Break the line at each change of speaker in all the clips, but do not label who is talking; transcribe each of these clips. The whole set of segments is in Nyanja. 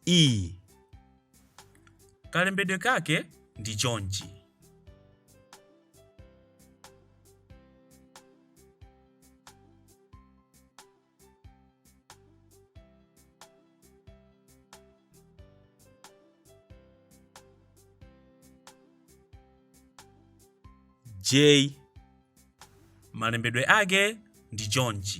i kalembedwe kake ndi chonchi j malembedwe ake ndi chonchi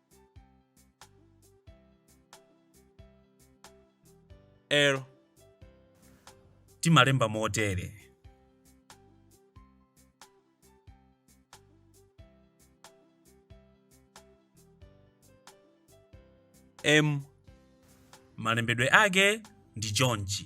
L. Timalemba motere. M. Malembedwe ake ndi chonchi.